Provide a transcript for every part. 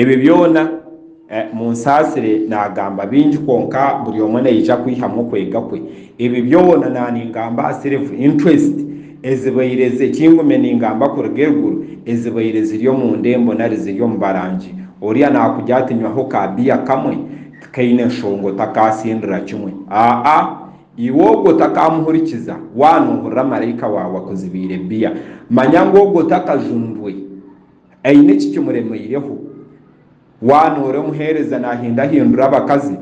Ebyo byona, munsaasire naagamba bingi kwonka buri omwe naija kwihamu okwega kwe. Ebi byona naaningamba aha silver interest ezibaire ze kingume ningamba kuruga eruguru ezibaire ziri omu ndembo nari ziri omu barangi. Oriya naakugira ati nywaho ka beer kamwe tikaine nshonga otakaasindura kimwe. Aa-a, iwe ogwo otakamuhurikiza, waaba noohurira maraika waawe akuzibiire beer, manya ngu ogwo takajunirwe. Aine eki kimuremeireho. Waana ori omuheereza naahindahindura abakazi,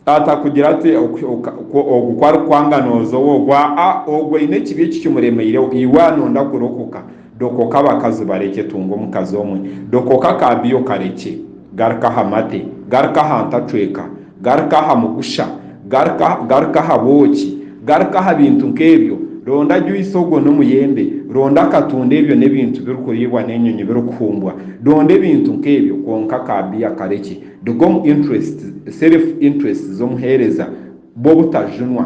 atakugira ati, Ogu ku arikwanga nooza owo ogwo. Aa, ogwo aine ekibi eki kimuremeireho. Iwe anoonda kurokoka, dokoka abakazi barekye, tunga omukazi omwe. Dokoka akaabiyo karekye. Garuka aha mate. Garuka aha ntacweka. Garuka aha mugusha. Garuka, garuka aha bwoki. Garuka aha bintu nk'ebyo. Ronda juyisi ogwo n'omuyembe. Ronda akatunda ebyo n'ebintu birikuriibwa n'enyonyi birikuhumbwa. Ronda ebintu nk'ebyo, kwonka ka biya karekye. Ruga omu interests, self interests, z'omuheereza, bw'obutajunwa.